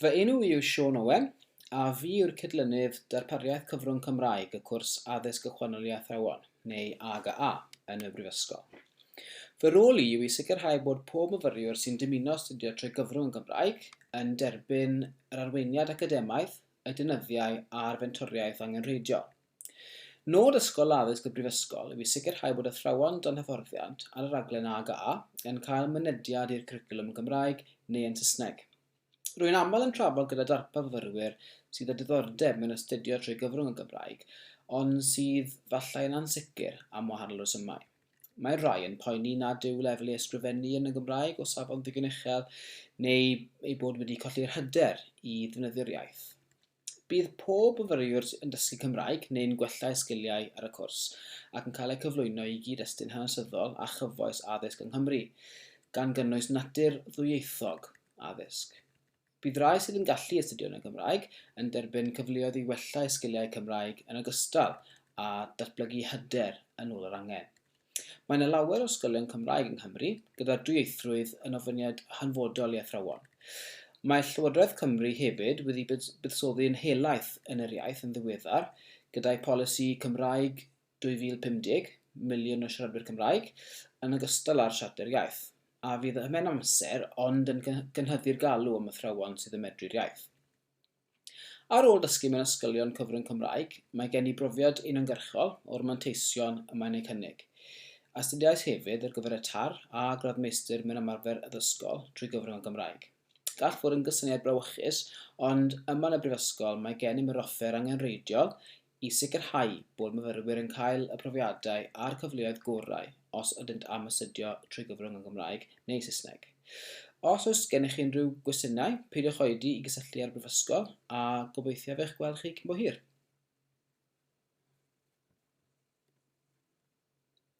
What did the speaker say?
Fy enw i yw Siôn Owen, a fi yw'r cydlynydd Darpariaeth Cyfrwng Cymraeg y cwrs Addysg Ychwanegol i Athrawon, neu AGA, yn y Brifysgol. Fy rôl i yw i sicrhau bod pob myfyriwr sy'n dymuno astudio trwy gyfrwng yn Gymraeg yn derbyn yr arweiniad academaidd, y deunyddiau a'r fentoriaeth angenrheidiol. Nod Ysgol Addysg y Brifysgol yw i sicrhau bod athrawon dan hyfforddiant ar y rhaglen AGA yn cael mynediad i'r cwricwlwm yn Gymraeg neu yn Saesneg. Rwy'n aml yn trafod gyda darpar fyfyrwyr sydd â diddordeb mewn astudio trwy gyfrwng y Gymraeg ond sydd falle yn ansicr am wahanol resymau. Mae rhai yn poeni nad yw lefel ei ysgrifennu yn y Gymraeg o safon ddigon uchel neu ei bod wedi colli'r hyder i ddefnyddio'r iaith. Bydd pob myfyriwr yn dysgu Cymraeg neu'n gwella eu sgiliau ar y cwrs ac yn cael eu cyflwyno i gyd-destun hanesyddol a chyfoes addysg yng Nghymru, gan gynnwys natur ddwyieithog addysg. Bydd rhai sydd yn gallu astudio yn y Gymraeg yn derbyn cyfleoedd i wella eu sgiliau Cymraeg yn ogystal â datblygu hyder yn ôl yr angen. Mae yna lawer o ysgolion Cymraeg yng Nghymru, gyda'r dwyieithrwydd yn ofyniad hanfodol i athrawon. Mae Llywodraeth Cymru hefyd wedi buddsoddi yn helaeth yn yr iaith yn ddiweddar, gyda'i Polisi Cymraeg 2050, Miliwn o Siaradwyr Cymraeg, yn ogystal â'r Siarter Iaith, a fydd ym mhen amser ond yn gynhyddu'r galw am athrawon sydd yn medru'r iaith. Ar ôl dysgu mewn ysgolion cyfrwng Cymraeg, mae gen i brofiad uniongyrchol o'r manteision y mae'n eu cynnig. Astudiais hefyd ar gyfer y TARR a gradd Meistr mewn Ymarfer Addysgol drwy gyfrwng y Gymraeg. Gall fod yn gysyniad brawychus, ond yma yn y Brifysgol mae gennym yr offer angenrheidiol i sicrhau bod myfyrwyr yn cael y profiadau a'r cyfleoedd gorau os ydynt am astudio trwy gyfrwng yn Gymraeg neu Saesneg. Os oes gennych chi unrhyw gwestiynau, peidiwch oedi i gysylltu â'r Brifysgol a gobeithiaf eich gweld chi cyn bo hir.